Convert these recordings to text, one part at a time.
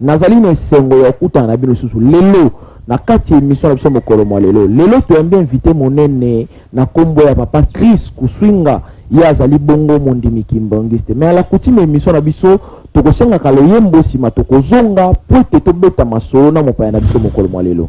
Nazali na esengo ya kokutana na bino lisusu lelo na kati ya emission na biso mokolo mwa lelo. Lelo toyambi invité monene na kombo ya papa Chris Kuswinga, ye azali bongo mondimi kimbangiste. Mais à la coutume emission na biso tokosengaka loyembo nsima tokozonga po ete tobeta masolo na mopaya na biso mokolo mwa lelo.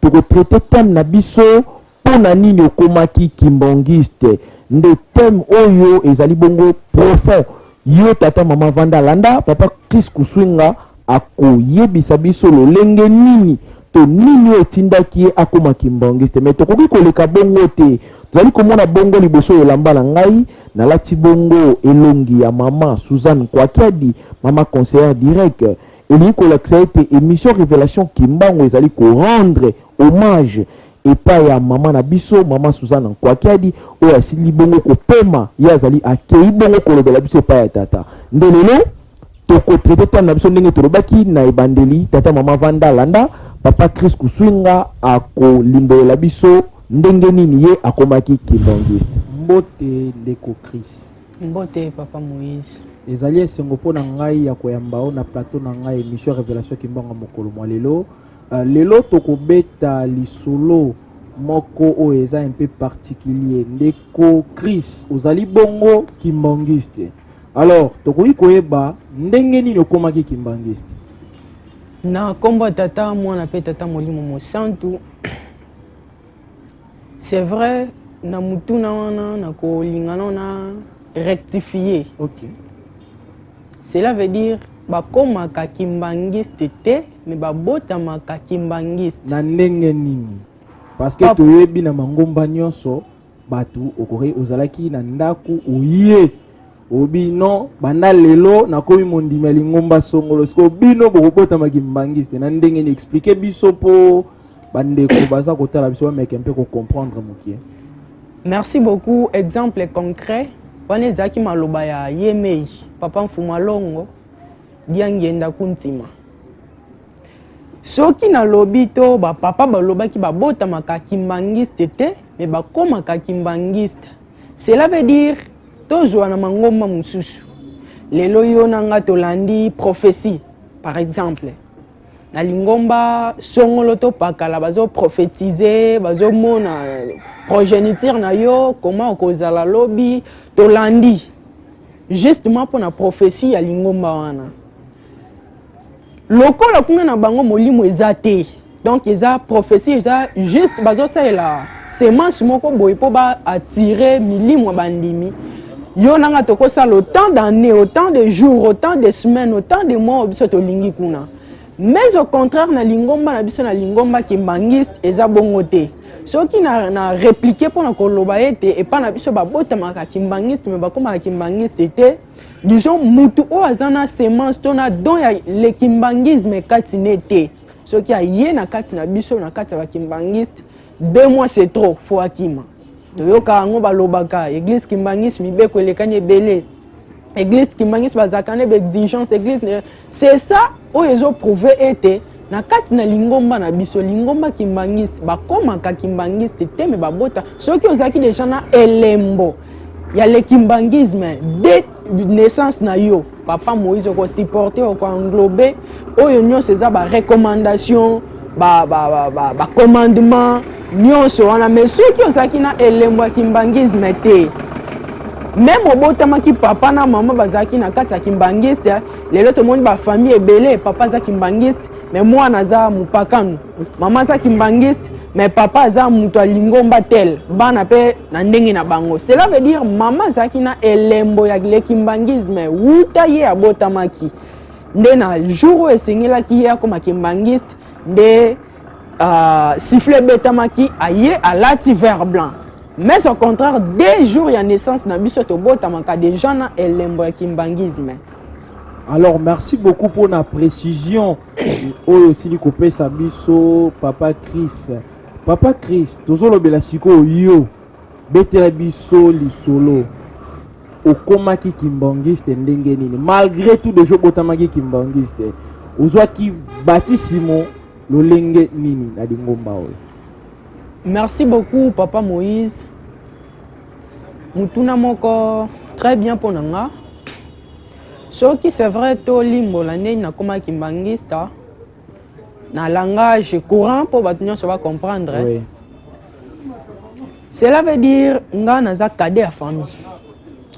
Toko traiter thème na biso pona nini okomaki kimbangiste nde thème oyo ezali bongo profond. Yo tata mama vanda landa papa Chris Kusuinga ako yebisa biso lolenge nini to nini oyo etindaki ye akoma kimbangiste mais tokoki koleka bongo te. Tozali komona bongo liboso elamba na ngai nalati bongo elongi ya mama Suzanne Kwakiadi mama conseillère direct elingi kolakisa ete emission revelation kimbangu ezali korendre hommage epai ya mama na biso mama suzana nkwakiadi oyo asili bongo kopema ye azali akei bongo kolobela biso epai ya tata nde lelo tokotraite tani na biso ndenge tolobaki na ebandeli tata mama vanda landa papa chris kuswinga akolimbolela biso ndenge nini ye akomaki kimbangiste mbote ndeko chris Mbote papa Moïse. Ezali esengo mpo na ngai ya koyamba yo na plateau na ngai emission Révélation Kimbangu mokolo mwa lelo. Uh, lelo tokobeta lisolo moko oyo eza un peu particulier ndeko Chris ozali bongo kimbanguiste. Alors tokoki koyeba ndenge nini okomaki kimbanguiste? Na kombo tata mwana pe tata molimo mosantu c'est vrai na mutuna wana na kolingana na rectifier okay. cela veut dire bakomaka kimbanguiste te me babotamaka kimbanguiste na ndenge nini parce que toyebi na mangomba nyonso bato okoki ozalaki na ndako oye obino banda lelo nakomi mondimi ya lingomba songolo sikoyo bino bokobotama kimbangiste na ndenge ni explike biso mpo bandeko baza kotala biso bameke mpe kocomprendre mokie merci beaucoup exemple concret wana ezalaki maloba ya yemei papa mfuma longo diangienda kuntima soki nalobi to bapapa balobaki babotamaka kimbangiste te me bakomaka kimbangiste Cela veut dire tozwa na mangomba mosusu lelo yo na nga tolandi prophetie par exemple na lingomba songolo to pakala bazo prophétiser bazomona euh, progéniture na yo koma okozala lobi tolandi justement mpo na prophétie ya lingomba wana lokola kuna na bango molimo eza te donc eza prophétie eza juste bazosalela semence moko boye mpo baatire milimo ya bandimi yo na nga tokosala autant d'année autant de jours autant de semaines autant de mois biso tolingi kuna mais au contraire na lingomba na biso na lingomba kimbangiste eza bongo te soki na, na replike mpo na koloba ete epai na biso babotamaka kimbangiste me bakomaka kimbangiste te disons mutu oyo aza na semence to na don ya le kimbangisme kati ne te soki aye na kati na biso na kati ya bakimbangiste deux mois c'est trop fo akima toyoka yango balobaka eglise kimbangisme mibeko elekani ebele eglise kimbangisme bazalaka na baexigence eglise c'est ça oyo ezo prouve ete na kati na lingomba na biso lingomba kimbangiste bakomaka kimbangiste te me babota soki ozalaki deja na elembo ya le kimbangisme de naissance na yo papa moïse okosupporte okoenglobe oyo nyonso eza barecommandation ba, ba, ba, ba, ba commandement nyonso wana mais soki ozalaki na elembo ya kimbangisme te meme obotamaki papa na mama bazalaki na kati ya kimbangiste lelo tomoni bafamille ebele papa aza kimbangiste me mwana aza mopakano mama aza kimbangiste me papa aza moto ya lingomba tel bana mpe na ndenge na bango cela veut dire mama azalaki na elembo ya lekimbangisme wuta ye abotamaki nde na jour oyo esengelaki ye akoma kimbangiste nde uh, siffle ebetamaki aye alati vert blanc mais au contraire deux jours ya naissance na biso tobotamaka déjà na elembo ya kimbangisme alors merci beaucoup mpo na précision oyo osili kopesa biso papa chris papa chris tozolobela sikoyo yo Betela biso lisolo okomaki kimbangiste ndenge nini malgre tout deja obotamaki kimbangiste ozwaki batisimo lolenge nini na lingomba oyo merci beaucoup papa moïse motuna moko très bien mpo na nga soki c'est vrai tolimbola ndenge nakomaki mbangista na langage courant mpo bato nyonso bacomprendre oui. cela veut dire nga naza cadet ya famille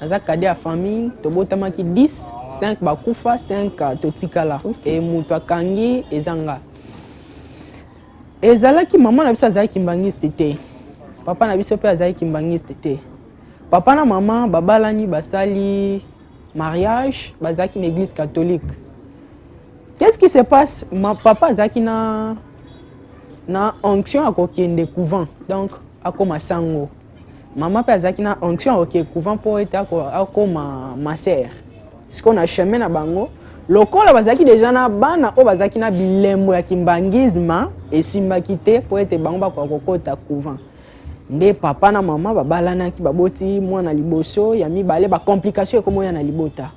naza cadet ya famille tobotamaki 10 5 bakufa 5 totikala okay. e moto akangi eza nga ezalaki mama na biso azalaki mbangiste te papa na biso mpe azalaki mbangiste te papa na mama babalani basali mariage bazalaki na église catholique qu'est-ce qui se passe ma papa azalaki na na onction ya kokende couvent donc akoma sango mama mpe azalaki na onction ya kokende couvent mpo ete akoma masere sikoyo na chemin na bango lokola bazalaki deja na bana oyo bazalaki na bilembo ya kimbangisme esimbaki te mpo ete bango bakoka kokota couvent nde papa na mama babalanaki baboti mwana liboso ya mibale bacomplication ekomoya na libota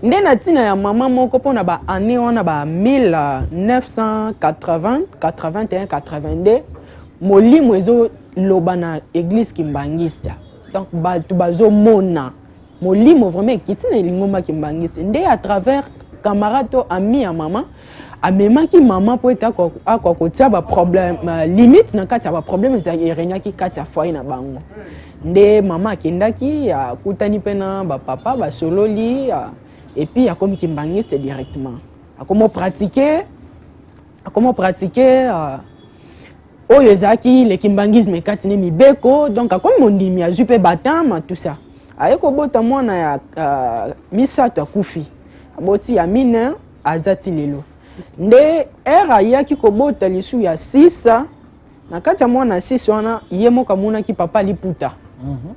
nde na ntina ya mama moko mpo na baannée wana ba 1980 molimo ezoloba na eglise kimbangiste donc bato bazomona molimo vraiment ekiti na elingomba kimbangiste nde à travers camarade to ami ya mama amemaki mama mpo ete akoka kotia baproblème euh, limite na kati ya baproblème ezali eregnaki kati ya foyer na bango nde mama akendaki akutani mpe na bapapa basololi euh, epuis akomi kimbangiste directement akomi opratike akomi opratike euh, oyo ezalaki le kimbangisme kati ne mibeko donc akomi mondimi azwi mpe batama tout ça aye kobota mwana ya uh, misato akufi aboti ya mine aza ti lelo nde ere ayaki kobota lisu ya sisa na kati ya mwana ya sisa wana ye moko amonaki papa liputa mm -hmm.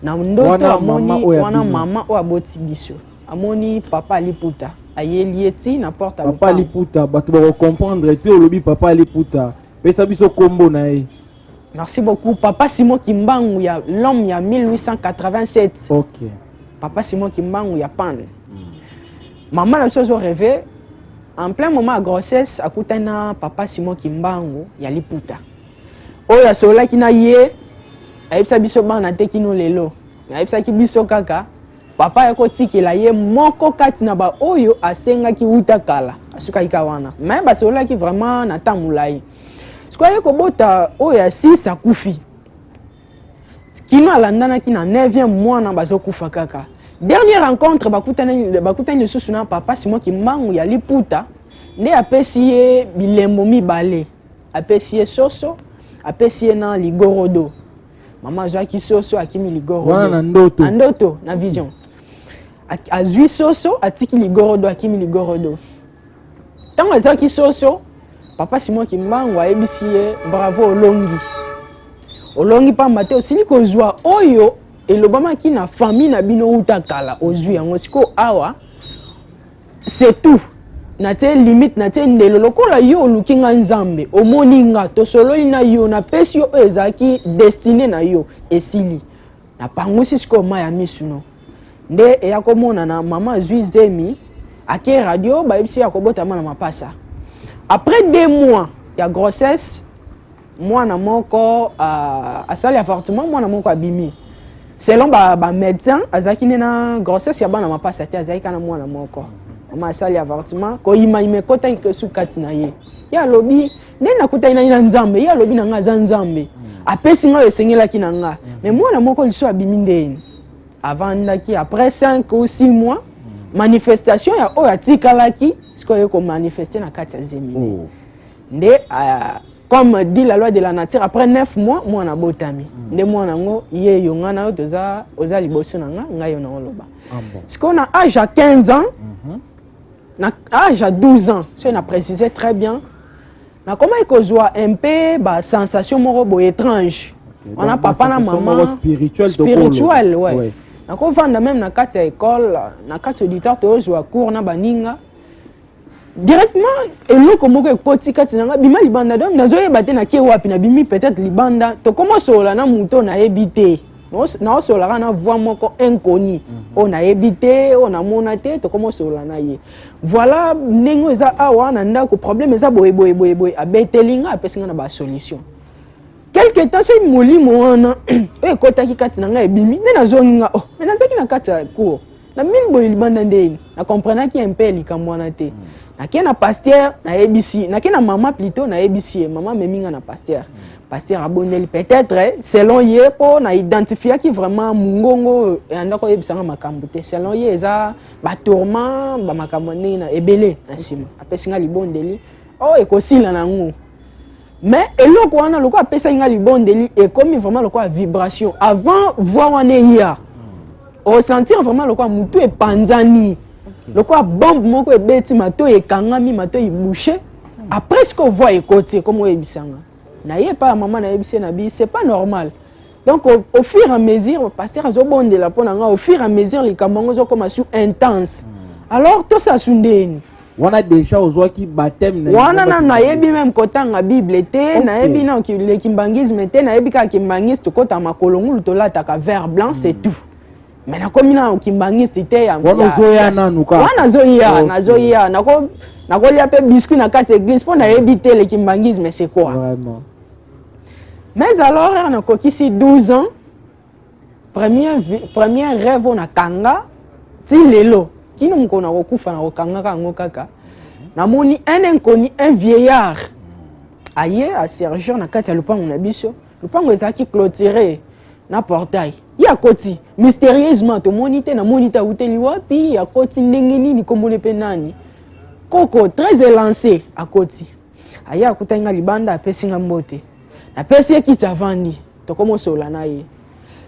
na ndoto amoni wana mama oyo aboti biso amoni papa aliputa ayeli ye ti na porte ya papa aliputa bato bakokomprendre te olobi papa aliputa pesa biso nkombo na ye merci beaucoup papa simon kimbangu ya l'homme ya 1887 okay. papa simon kimbangu ya pan mm. mama na biso azo reve en plein moment ya grossesse akutani na papa simon kimbangu ya liputa oyo asololaki na ye ayebisa biso bana te kino lelo ayebisaki biso kaka papa ya kotikela ye moko kati na baoyo asengaki uta kala asukaki ka wana me basololaki vraiment na ntango molai sikoyo aye kobota oyo ya sis akufi kino alandanaki na 9e mwana bazokufa kaka dernière rencontre bakutani, bakutani lisusu na papa simon kimbangu ya liputa nde apesi ye bilembo mibale apesi ye soso apesi ye na ligorodo mama azwaki soso akimi ligorodo wana na ndoto na ndoto na vision azwi soso atiki ligorodo akimi ligorodo ntango azwaki soso papa simon kimbangu ayebisi ye bravo olongi olongi mpamba te osili kozwa oyo elobamaki na famille na bino uta kala ozwi yango sikoyo awa c'est tout natie limite natie ndelo lokola yo oluki nga nzambe omoni nga tosololi na yo napesi yo oyo ezalaki destine na yo esili napangusi sikoyo mai ya misu no nde eya komonana mama azwi zemi ake radio bayebisi ya kobotama na mapasa après deux mois ya grossesse mwana moko uh, asali avortement mwana moko abimi selon bamédecin ba azalaki nde na grossesse ya bana mapasa te azalaki kana mwana moko mama asali avortement koyimayima ekotaki kesu kati na ye ye alobi nde nakutaki nani na nzambe ye alobi na ngai aza nzambe mm. apesi ngai oyo esengelaki na ngai mm. mais mwana moko liso abimi ndeni avandaki après 5 ou 6 mois mm. manifestation ya oyo atikalaki sikoyo ye komanifeste na kati ya zemi oh. nde uh, comme dit la loi de la nature après 9 mois mwana abotami mm. nde mwana yango ye yo ngai na yo toza oza liboso na ngai ngai yo na oloba ah, bon. sikoyo na age ya 15 ans mm -hmm. na age ya 12 ans soki na précise très bien nakomaki kozwa un peu basensation moko boye étrange okay. wana papa na mama spirituel, spirituel ouais. ouais. nakovanda meme na kati ya ekole na kati auditeur tozwa cours na baninga directement eloko moko ekoti kati na nga bima libanda donc nazoyeba te nake wapi nabimi peut-être libanda tokoma osolola na moto oyo nayebi te naosololaka na voix moko inconnu mhm. oyo nayebi te oyo namona te tokoma osolola na ye voilà ndenge oyo eza awa na ndako problème eza boye boye boye boye abeteli nga apesi nga na basolution quelque temps soki molimo wana oyo ekotaki kati na ngai ebimi nde nazongi nga oh nazalaki na kati ya cour na mil boye libanda nde na comprenaki un peu likambo wana te mm. nake na pasteur nayebisi nake na mama plutôt nayebisi ye mama amemi nga na pasteur mm. pasteur abondeli peut-être selon ye mpo na identifiaki vraiment mongongo eyanda koyebisa nga makambo te selon ye eza batourment bamakambo ndenge na ebele na nsima apesi nga libondeli oyo oh, ekosila na yango mais eloko wana lokola apesaki ngai libondeli ekomi vraiment lokola vibration avant voi wana eya osentir vraiment lokola motu epanzani lokola bombe moko ebeti matoi ekangami matoi ebouche hmm. après siko voi ekoti ekomi oyebisanga naye epai ya mama nayebisi ye na bi c'est pas normal donc au, au fur et à mesure pasteur azobondela mpo na ngai au fur et à mesure likambo yango ezokoma su intense hmm. alors tosasu ndeni wana deja ozwaki bateme wana nanu nayebi meme kotanga bible te okay. nayebi na le kimbangisme te nayebi kaka kimbangiste tokota makolo ngulu tolataka vert blanc c'est hmm. tout mais nakomi na kimbangiste te wana ozoya nanu kaka wana nazoya nazoya nakolia mpe biscuit na kati eglise mpo nayebi te le kimbangisme c'est quoi Vraiment. mais alors ere nakokisi 12 ans premier, premier rêve oyo nakanga ti lelo kino mokolo nakokufa nakokangaka yango kaka namoni un inconnu un vieillard aye asergeur na kati ya lopango na biso lopango ezalaki clôture na portail ye akoti mystérieusement tomoni te namoni te awuteli wapi akoti ndenge nini kombole mpe nani koko très élancé akoti aye akutaki nga libanda apesi nga mbote napesi ye kiti avandi tokomi osola na ye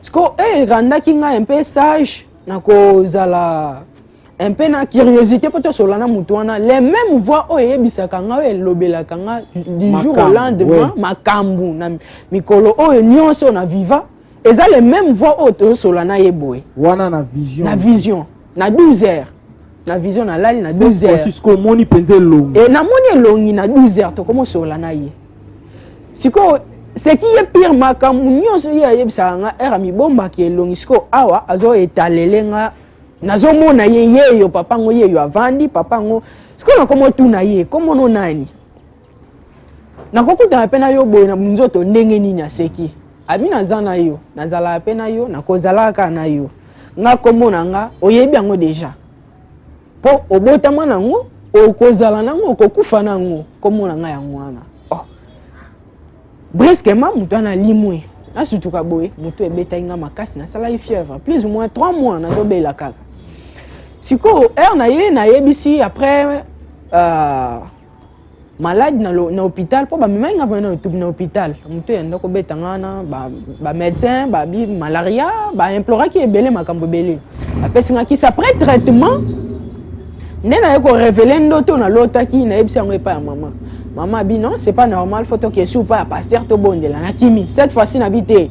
sikoyo eh, erandaki ngai mpe sage na kozala mpe na curiosité mpo tosola na motu wana le même voix oyo eyebisaka ngai oyo elobelaka ngai du jour au lendemain makambo na mikolo oyo nyonso na viva eza le même voix oyo tozosola na ye boye wana na vision na vision na 12 heures na vision nalali na 12 heures omoni mpenza elongi e, namoni elongi na 12 heures tokomosola na ye sikoyo seki ye pire makambo nyonso ye ayebisaka nga ere amibombaki elongi sikoyo awa azoetalele nga nazomona ye yeyo papa yango yeyo avandi papa yango sikoyo nakomotuna ye komono nani nakokutana mpe na yo boye na nzoto ndenge nini aseki abi naza na yo nazalaka mpe na yo nakozalaka kaka na yo nga nkombo na nga oyebi yango deja mpo obotama nango okozala nango okokufa nango nkombo na nga yango wana oh. brusquement moto wana alimwe nasutuka boye moto ebetaki nga makasi nasalaki fièvre plus ou moins 3 mois nazobela kaka sikoyo heure na ye nayebisi après uh, malade na, lo, na hôpital mpo bamemaki nga mpena etubi na hôpital moto ya ndako obeta nga wana bamédecin ba babi malaria baimploraki ebele makambo ebele bapesi nga kisi après traitement nde naye korevele ndoto nalotaki nayebisi yango epai ya mama mama abi non c'est pas normal fo tokesi upa ya paster tobondela na kimi cette fois-ci nabi te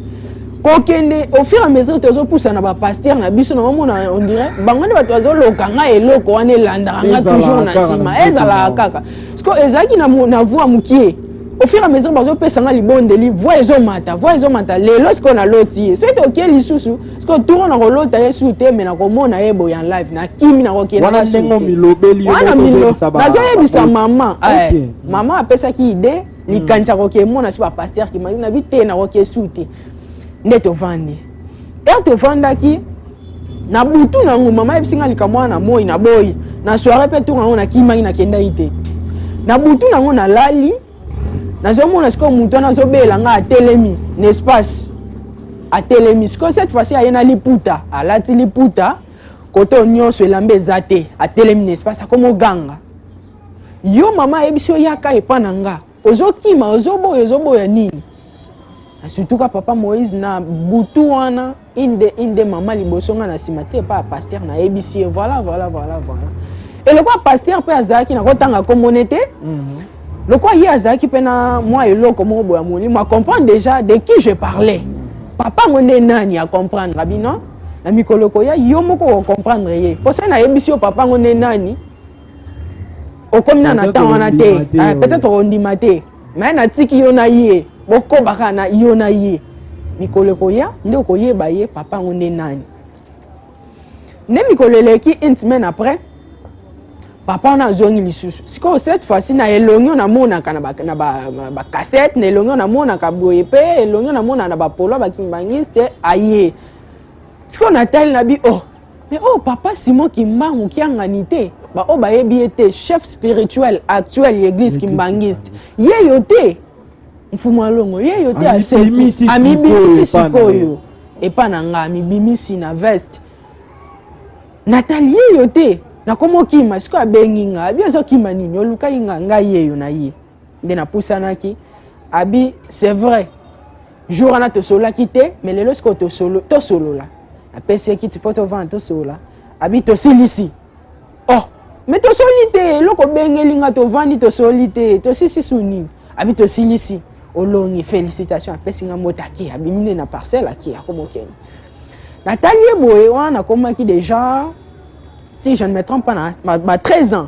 kokende au fur et à mesure tozopusa na bapaster na biso naomona on dirait bango nde bato bazoloka ngai eloko wana elandaka nga toujours na nsima ezalaka kaka siko ezalaki na voi mokie au fur et à mesure bazopesa nga libondeli voi ezomata voi ezomata lelo sikoyo naloti ye soki tokie lisusu sikoyo turo nakolota ye su te me nakomona ye boye en live nakimi nakokielanazoyebisa mama eh, mama apesaki idee likanisa koke emona so bapaster kimaki na bi te nakoki esu te nde tovandi ere tovandaki na butu na yango mama ayebisi ngai likambo wana na moi na boyi na soire mpe ntongo yango nakimaki nakendaki te na butu na yango nalali nazomona sikoyo moto wana azobela ngai atelemi na espace atelemi sikoyo cette fois-ci aye na liputa alati liputa koto nyonso elamba eza te atelemi na espace akomoganga yo mama ayebisi yo yaka epa na nga ozokima ozoboya ozoboya nini surtout ka papa moïse na butu wana inde inde mama liboso nga na nsima ti epa ya paster nayebisi ye voilà voilà voilà voilà eloko ya paster mpe azalaki nakotanga komone te mhm. lokola ye azalaki mpe na mwa eloko moko boya molimo acomprendre déjà de qui je parlais papa yango nde nani acomprendre bino na mikolo koya yo moko okomprendre ye mpo soki nayebisi yo papa yango nde nani okomi na na temps wana te eh, peut-être ondima te mais natiki yo na ye bokobaka na yo na ye mikolo ekoya nde okoyeba ye papa yango nde nani nde mikolo eleki une semaine après papa wana azongi lisusu sikoyo cette fois-ci na elongi namonaka na bacassette na elongi namonaka boye mpe elongi namonaka na bapolo bakimibangiste aye sikoyo natali na bi oh Mais oh papa Simon Kimbangu kiangani te ba oyo bayebi ye te chef spirituel actuel ya église kimbangiste ye yo te mfumu alongo ye yo te amibimisi sikoyo epa na nga amibimisi na veste natali ye yo te nakomi okima sikoyo abengi nga abi ozokima nini olukaki nga ngai yeyo na ye nde napusanaki abi c'est vrai jour wana tosololaki te mais lelo sikoyo tosolola apesi ye kiti mpo tovanda tosolola abi tosilisi oh mais tosoli te eloko obengeli nga tovandi tosoli te tosisi su nini abi tosilisi olongi félicitation apesi nga mbote ake abimi nde na parcelle ake akomokende natali ye boye wana nakomaki déjà si je ne me trompe pas na ba 13 ans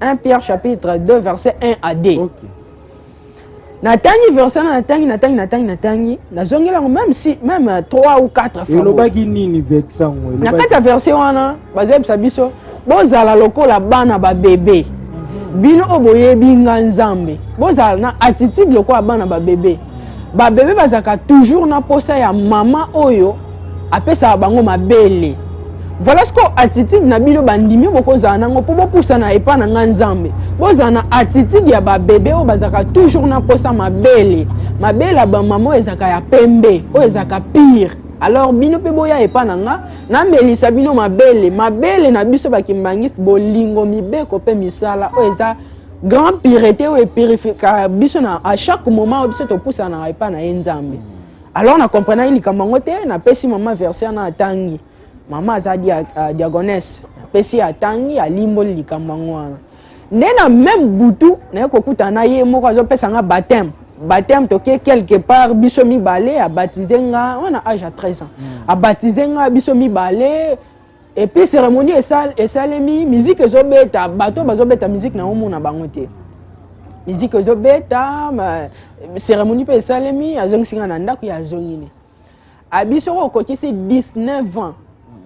1 Pierre chapitre 2 verset 1 à 2. Okay. natangi verset na natangi natangi natangi natangi nazongeli yango même si même 3 euh, ou 4 fois elobaki nini verset yango na kati ya verset wana bazoyebisa biso bozala lokola bana babebe mhm. bino oyo boyebi nga nzambe bozala na attitude lokola bana babebe babebe bazalaka toujours na mposa ya mama oyo apesaka bango mabele voilà ce que attitude na bino bandimi bokozala nango mpo bopusana epai na ngai nzambe bozala na attitude ya babebe oyo bazalaka toujours na mposa mabele mabele ya bamama oyo ezalaka ya pembe oyo ezalaka pire alors bino mpe boya epai na nga namelisa bino mabele mabele na biso bakimbangiste bolingo mibeko mpe misala oyo eza grand pirete oyo epirifikaka biso na à chaque moment oyo biso topusanaka epai na ye nzambe alors na comprenaki likambo yango te napesi mama verse wana atangi mama aza dia, uh, diagonese napesi atangi alimboli likambo yango wana nde na meme butu naye kokutana na ye moko azopesa nga bateme bateme toke quelque part biso mibale abatize nga wana age ya 13 ans mm. abatize nga biso mibale epuis cérémonie esalemi miziki ezobeta bato oyo bazobeta miziki na omona bango te miziki ezobeta cérémonie mpe esalemi azongisi ngai na ndako ya azongini abi soki okokisi 19 ans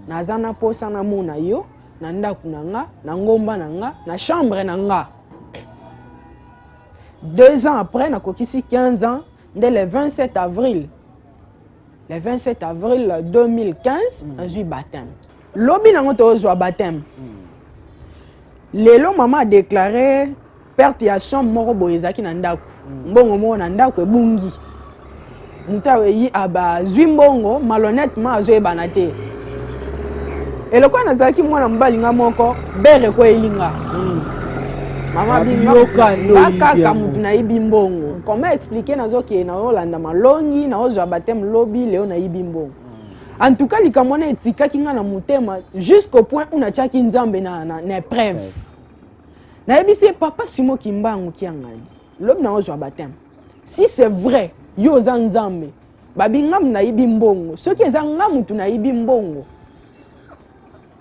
naza na mposa namona yo na ndako na nga na ngomba na nga na chambre na nga deux ans après nakokisi 15 ans nde le 27 avril le 27 avril 2015 mm. nazwi baptême lobi nango tozwa baptême mm. lelo mama adeklare perte ya somme moko boye ezalaki na ndako mm. mbongo moko na ndako ebungi moto azwi mbongo malhonnêtement azoyebana te eloko wana nazalaki mwana mobali nga moko bere ekweyeli nga hmm. mamabakaka motu nayibi mbongo comment explike nazokende naolanda malongi naozwa bateme lobi leo nayibi mbongo hmm. en tout cas likambo wana etikaki nga na motema jusqu'au point où natiaki nzambe na, na, na épreuve ouais. nayebisi ye papa simo kimbangu kiangani lobi naozwa bateme si c'est vrai yo oza nzambe babi nga mutu nayibi mbongo soki eza nga mutu nayibi mbongo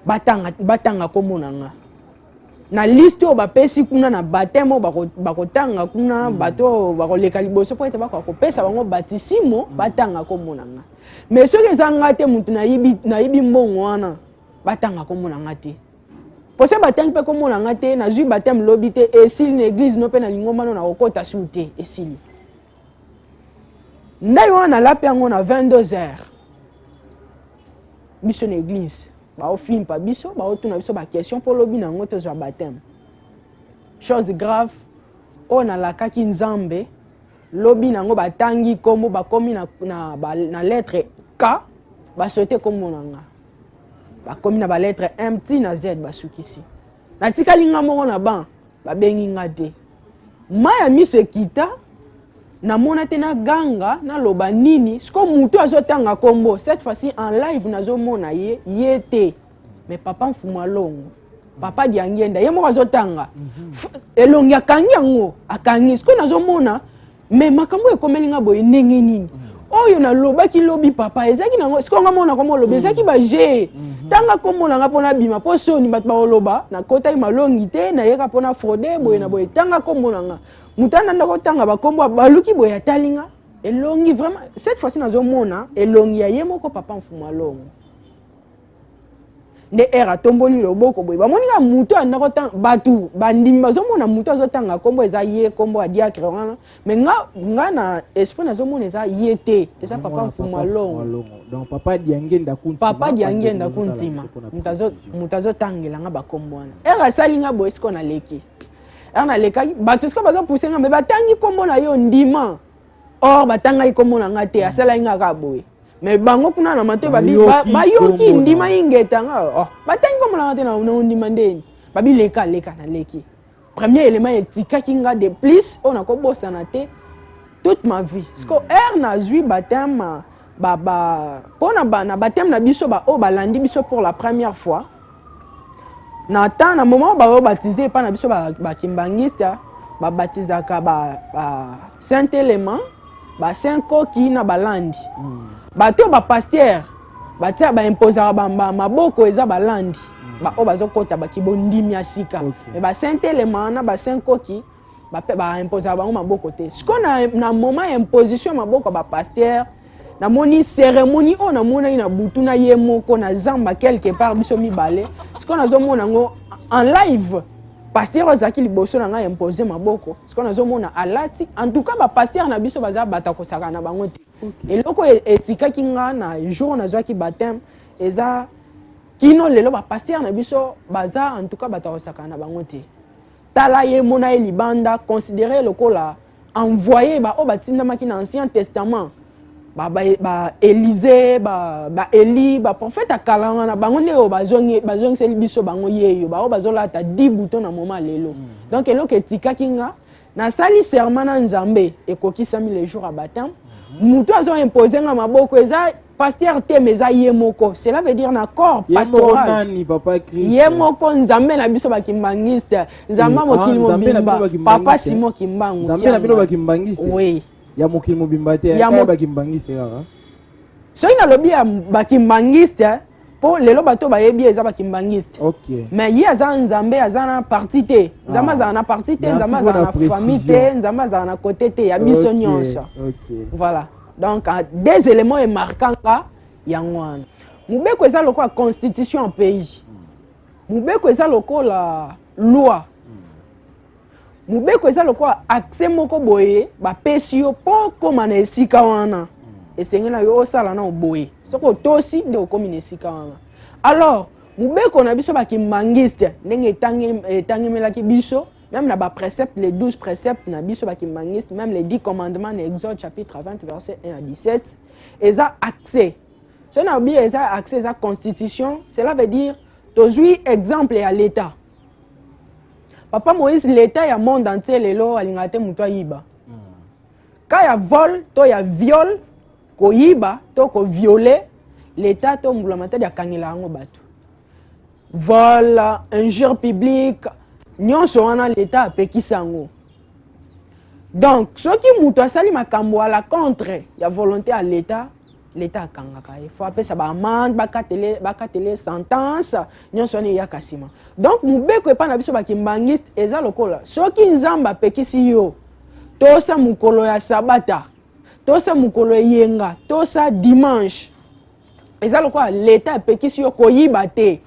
batanga batanga kombo na nga na liste oyo bapesi kuna na bateme oyo bakotanga bako kuna mm. bato oyo bakoleka liboso mpo ete bakoka kopesa bango batisimo mm. batanga kombo na nga me soki eza nga te motu nayibi mbongo wana batanga kombo na nga te mpo se batangi mpe kombo na nga te nazwi bateme lobi te esili na eglize no mpe na lingomba no nakokota su te esili ndai wana nalapi yango na 22 heures biso na église baofimpa biso baotuna biso baquestion mpo lobi na yango tozwa bateme chose grave oyo nalakaki nzambe lobi na yango batangi nkombo bakomi na, na, na, na lettre k baswete nkombo na nga bakomi na baletre m ti na z basukisi natikali nga moko na ban babengi nga te mai ya miso ekita namona te naganga naloba nini siko motu azotanga nkombo cette fois-ci en live nazomona ye ye te mais papa mfuma longo papa diangienda ye moko azotanga mhm. elongi akangi yango akangi siko nazomona mais makambo oyo ekomeli nga boye ndenge nini mm. oyo nalobaki lobi papa ezalaki nango sikoyo nga mona koma oloba mm. ezalaki baje mm-hmm. tanga komona nga mpo nabima mpo soni bato bakoloba nakotaki malongi te nayeka mpo na fraude boye na boye tanga komona nga moto ana ndako tanga bakombo baluki boye atali nga elongi vraiment cette fois-ci nazomona elongi ya ye moko papa mfumalongo nde ere atomboli loboko boye bamoni kaka moto anda kotanga bato bandimi bazomona moto azotanga nkombo eza ye nkombo ya diacre wana me nga, nga na esprit nazomona eza ye te eza papa mfumu alongo papa diangenda kuntima moto azotangela nga bakombo wana ere asali nga boye siko naleki ere nalekaki bato siko bazopuse nga me batangi nkombo na yo ndima or batangaki nkombo na ngai te asalaki ngai kaka boye mais bango kuna na matoi babi bayoki ndima ingeta nga oh, batangi nkombo na ngai te na ondima ndeni babi leka leka naleki premier élément etikaki nga de plus oyo nakobosana te toute ma vie siko heure nazwi batema ba ba pona ba na baptême na biso ba oyo balandi biso pour la première fois na temps na moment baoyo baptise epai na biso bakimbangiste ba babatisaka ba, ba saint element ba saint koki na balandi mm. bato oyo bapaster batia baimposaka maboko eza balandi mm. baoyo bazokota bakibondimi ya sika okay. me ba saint element na ba saint koki baimposaka bango maboko te sikoyo na, na moment ya imposition ya maboko ya bapastere namoni seremoni oyo namonaki na butu na ye moko na zamba quelque part biso mibale sikoyo nazomona yango en live pasteur oyo azalaki liboso na ngai impose maboko sikoyo nazomona alati en tout cas bapasteur na biso baza bato akosaka na bango te okay. eloko e, etikaki ngai na jour nazwaki bateme eza kino lelo bapasteur na biso baza en tout cas bato akosaka na bango te tala ye mona ye libanda considere lokola envoye baoyo batindamaki na ancien testament baelise ba, ba, baeli ba baprofete ya kala wana bango nde oyo bazongiseli biso bango yeyo baoyo bazolata di buto na moma lelo mm. donc eloko etikaki nga nasali serment na nzambe ekokisami le jour ya batame mm. moto azoimpose nga maboko eza pasteur te mais eza ye moko cela veut dire na corps pastoral ye moko nzambe na biso bakimbangiste nzambe ya eh, ah, mokili mobimba papa simon kimbangu nzambe na bino bakimbangiste oui ya mokili mobimba te ya bakimbangiste kaka soki nalobi ya bakimbangiste mpo lelo bato bayebi ye eza bakimbangiste okay. mais ye aza nzambe aza na parti te nzambe ah. azala na parti te nzambe azala na famille te nzambe azala na kote te ya biso okay. nyonso okay. voilà donc ah, des éléments emarka nga yango wana mobeko eza lokola constitution ya pays mobeko eza lokola loi mobeko eza lokola accès moko boye bapesi yo mpo okóma na esika wana esengeli na yo osala na oboye soki otosi nde okómi na esika wana alors mobeko na biso bakimangiste ndenge etangemelaki biso Même na ba préceptes, les 12 préceptes na biso ba kimbanguiste, même les 10 commandements na Exode chapitre 20 verset 1 à 17, eza accès. Ce na bi eza accès eza constitution, cela veut dire tozui exemple ya l'état. Papa Moïse l'état ya monde entier lelo alinga te mutu ayiba. Ka ya vol to ya viol koyiba to ko violer l'état to mbulamatadi akangela yango bato. Voilà, injure publique, nyonso wana l'État apekisi yango. Donc, soki moto asali makambo à la contre ya volonté ya l'État, l'État akangaka ye. Faut apesa ba amende, bakatele, bakatele sentence, nyonso wana eyaka nsima. Donc, mobeko epai na biso bakimbangiste eza lokola soki Nzambe apekisi yo tosa mokolo ya sabata tosa mokolo eyenga tosa dimanche eza lokola leta epekisi yo koyiba te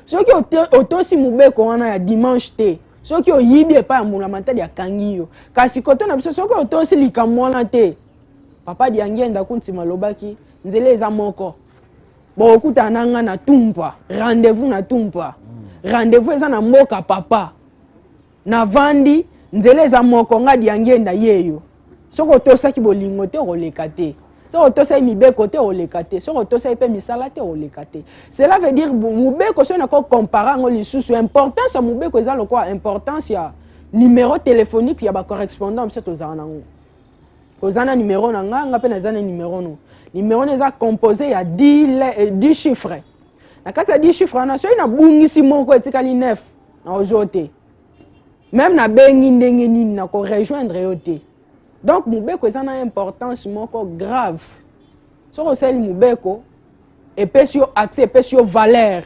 soki otosi mobeko wana ya dimanche te soki oyibi epai ya mbulamatali akangi yo kasi kote na biso soki otosi likambo wana te papa diangienda kuntima alobaki nzela eza moko bokokutana na ngai na tumpa rendez-vous na tumpa rendez-vous eza na mboka papa navandi nzela eza moko nga diangienda yeyo soki otosaki bolingo te okoleka te soki otosaki mibeko te oleka te soki otosaki mpe misala te oleka te cela veut dire mobeko soki nako compare yango lisusu importance ya mobeko eza lokola importance ya numero téléphonique ya bacorrespondant biso tozala nango oza na numero na nga nga mpe naza na numero no numero no eza composé ya 10 euh, chiffre na kati ya 10 chiffre wana soki nabungisi moko etikali 9 naozo te meme nabengi ndenge nini nako rejoindre yo te donc mobeko eza na importance moko grave soki osali mobeko epesi yo accès epesi yo valeur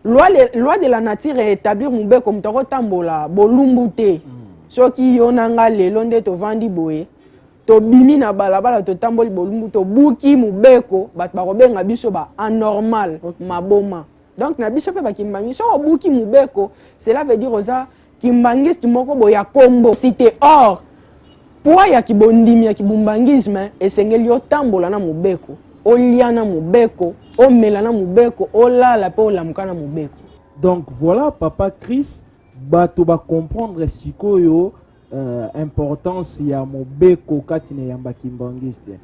loi, le, loi de la nature etablir mobeko moto akotambola bolumbu te mm. soki yo na nga lelo nde tovandi boye tobimi na balabala totamboli bolumbu tobuki mobeko bato bakobenga biso ba anormal okay. maboma donc na biso mpe bakimbangi soki obuki mobeko cela veut dire oza kimbangiste moko boye ya kombo site or pwa ya kibondimi ya kibumbangisme esengeli otambola na mobeko olia na mobeko omela na mobeko olala mpe olamuka na mobeko donc voilà papa chris bato bacomprendre sikoyo uh, importance ya mobeko kati na yamba kimbangiste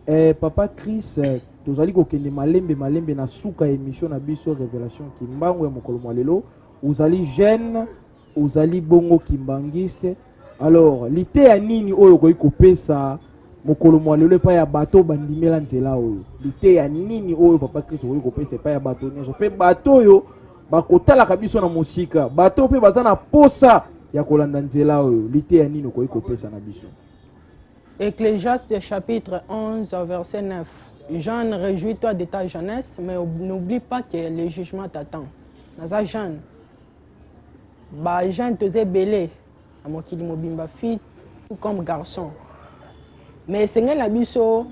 eh, papa chris eh, tozali kokende malembe malembe na suka ya émission na biso révélation kimbangu ya mokolo mwa lelo ozali jeune ozali bongo kimbangiste alors liteya nini oyo okoki kopesa mokolo mwa lelo epai ya bato bandimela nzela oyo liteya nini oyo papa kristo okoki kopesa epai ya bato nyonso mpe bato oyo bakotalaka biso na mosika bato mpe baza na posa ya kolanda nzela oyo liteya nini okoki kopesa na biso ecclesiaste chapitre 11 verset 9 jeune réjouis toi de ta jeunesse mais n'oublie pas que le jugement t'attend naza jeune bajeune toza ebele na mokili mobimba fille tout comme garçon mais esengeli na biso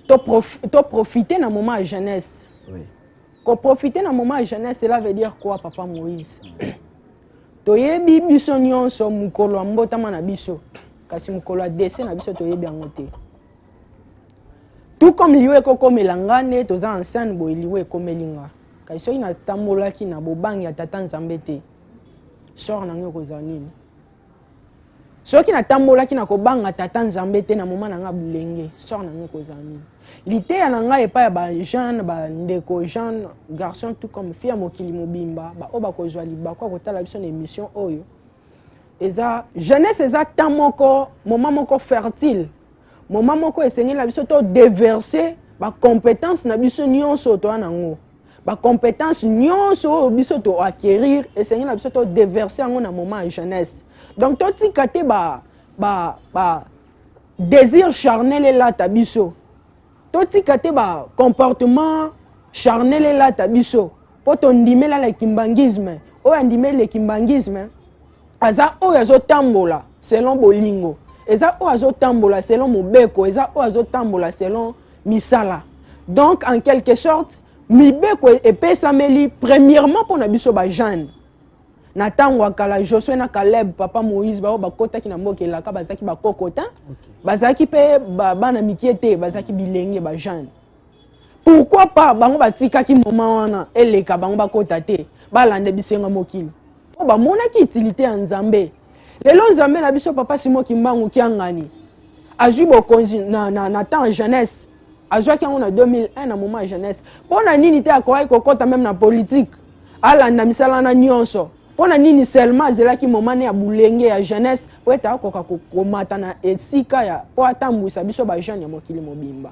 to, prof, to profite na moment ya jeunesse oui. koprofite na moment ya jeunesse cela veut dire quoi papa moïse toyebi biso nyonso mokolo ya mbotama na biso kasi mokolo ya dese na biso toyebi yango te tout comme liwa ekokomela nga nde toza ansene boye liwa ekomeli nga kasi soki natambolaki na bobangi ya tata nzambe te sor na ngai ekozala nini soki natambolaki na kobanga tata nzambe te na moma na ngai bolenge sor na ngai ekozala nini liteya na ngai epai ya bajeune bandeko jeune garçon tout comme fi ya mokili mobimba baoyo bakozwa libaku ya kotala biso na émission oyo eza jeunesse eza temps moko moma moko fertile moma moko esengeli na biso to deverse bacompétence na biso nyonso toya nango bacompétence nyonso oyo biso to acquérir esengeli na biso to déverse yango na moment ya jeunesse donc totika te ba, ba, ba désir charnel elata biso totika te ba comportement charnel elata biso mpo tondimela le kimbangisme oyo andimeli le kimbangisme aza oyo azotambola selon bolingo eza oyo azotambola selon mobeko eza oyo azotambola selon misala donc en quelque sorte mibeko e-, epesameli premièrement mpo na biso bajeune na ntango ya kala josue na caleb papa moïse baoyo bakotaki na mboka elaka bazalaki bakoko te bazalaki mpe bana mikie te bazalaki bilenge bajeune pourquoi pas bango batikaki moment wana eleka bango bakota te balanda bisenga mokili mpo bamonaki utilité ya nzambe lelo nzambe na biso papa simo kimbangu kiangani azwi bokonzi na, na, na temps ya jeunesse azwaki yango na 2001 na moment ya jeunesse mpo na nini te akokaki kokɔta meme na politike alanda misala wana nyonso mpo na nini seulement azelaki momane ya bulenge ya jeunesse mpo ete akoka komata na esika ya mpo atambwisa biso bajeune ya mokili mobimba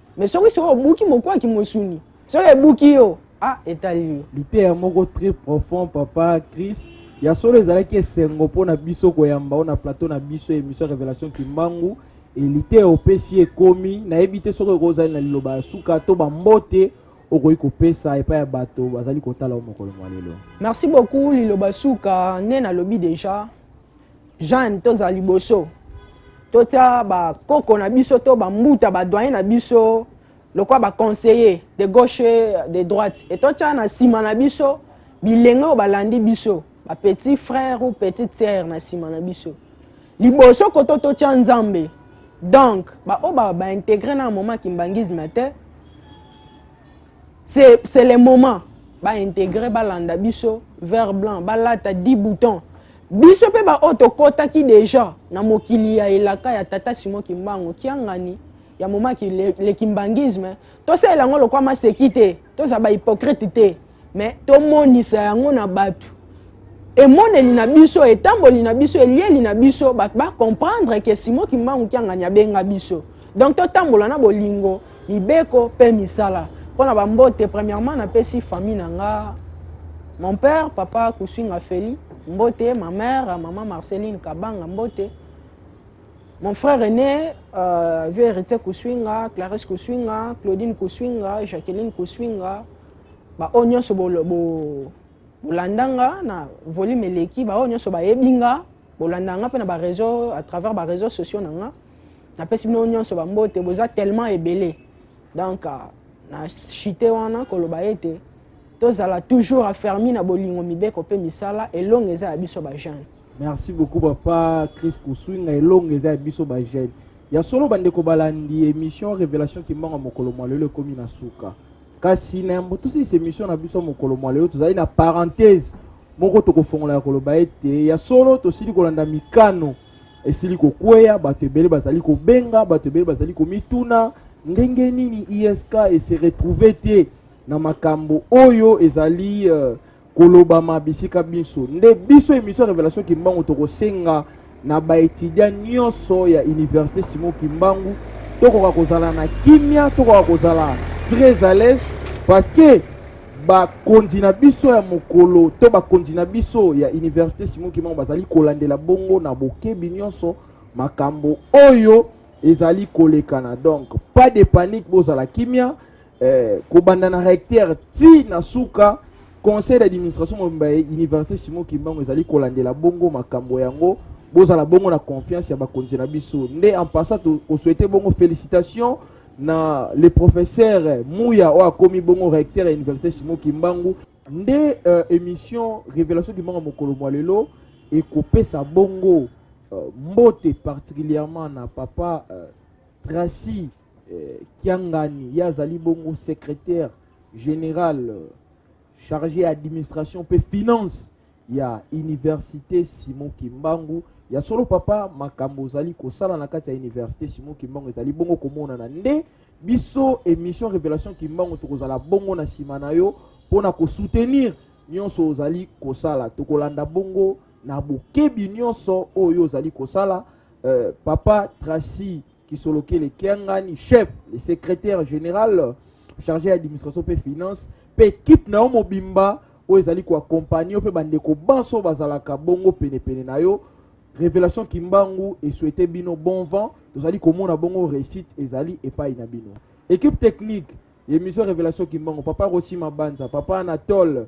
me soki soki obuki mokwaki mosuni soki ebuki yo ah etali yo liteya moko très profond papa chris ya solo ezalaki esengo mpo na biso koyamba o na plateau na biso émission révélation kimbangu liteya opesi ekomi nayebi te soki okoki ozali na liloba ya suka to bambote okoki kopesa epai ya bato bazali kotala o mokolo mwa lelo merci beaucoup liloba suka nde nalobi deja jeanne tozala liboso totya bakoko na biso to bambuta badoyen na biso lokola baconseiller de gauche de droite e totya na nsima na biso bilenge oyo balandi biso bapetit frère ou petite sœur na nsima na biso liboso koto totya nzambe donc baoyo ba, baintegre ba na moment kimbangisme te c'est le moment baintegre balanda biso vert blanc balata 10 boutons biso mpe baoyo tokɔtaki deja na mokili ya elaka ya tata simon kimbangu kiangani ya momaki le, le kimbangisme tosalela yango lokwa maseki te tozala bahypocrite te mais tomonisa yango na bato emoneli na biso etamboli na biso elieli na biso bato bacomprendre ke simon kimbangu kiangani abenga biso donc totambola na bolingo mibeko mpe misala mpo na bambote premièrement napesi famille na nga mon père papa kusinga feli mbote ma mère maman marceline kabanga mbote mon frère aîné euh, vieux héritier kusinga clarisse kusinga claudine kusinga jacqueline kusinga baoyo nyonso bolanda nga na volume eleki baoyo nyonso bayebi nga bolandaka nga mpe na bareseau à travers bareseau sociaux na nga napesi bino nyonso bambote boza tellement ebele donc euh, na chite wana koloba ete tozala toujours afermi na bolingo mibeko mpe misala elongo eza ya biso bajeune merci beaucoup papa chris kusuinga elongo eza ya biso bajeune ya solo bandeko balandi émission révélation kimbango mokolo mwa lelo ekomi na suka kasi na yambo tosilisa emission na biso mokolo mwa lelo tozali na parenthèse moko tokofongola ya koloba ete ya solo tosili kolanda mikano esili kokweya bato ebele bazali kobenga bato ebele bazali komituna ndenge nini isk ese retrouve te na makambo oyo ezali uh, kolobama bisika binso nde biso emission ya révélation kimbangu tokosenga na baetudiant nyonso ya université simon kimbangu tokoka kozala na kimia tokoka kozala très à l'aise parce que bakonzi na biso ya mokolo to bakonzi na biso ya université simon kimbangu bazali kolandela bongo na bokebi nyonso makambo oyo ezali kolekana donc pas de panique bozala kimia eh, kobanda na recteur ti na suka conseil d'administration mobimba ya université simon kimbangu ezali kolandela bongo makambo yango bozala bongo na confiance ya bakonzi na biso nde en passant kosouhaite bongo félicitation na le professeur muya oyo akomi bongo recteur ya université simon kimbangu nde euh, émission révélation kimbangu mokolo mwa lelo ekopesa bongo euh, mbote particulièrement na papa euh, tracy eh, kiangani ye azali bongo secrétaire général euh, chargé ya administration mpe finance ya université simon kimbangu ya solo papa makambo ozali kosala na kati ya université simon kimbangu ezali bongo komonana nde biso émission révélation kimbangu tokozala bongo na nsima na yo mpo na kosoutenir nyonso ozali kosala tokolanda bongo na bokebi nyonso oyo ozali kosala euh, papa tracy Kisolokele Kiangani, chef, le secrétaire général chargé d'administration et finance, pe équipe na yo mobimba oyo ezali koakompagne yo mpe bandeko banso bazalaka bongo penepene na yo révélation kimbangu esouete bino bon vent tozali komona bongo réussite ezali epai na bino équipe technique émission révélation kimbangu papa rosi mabanza papa anatole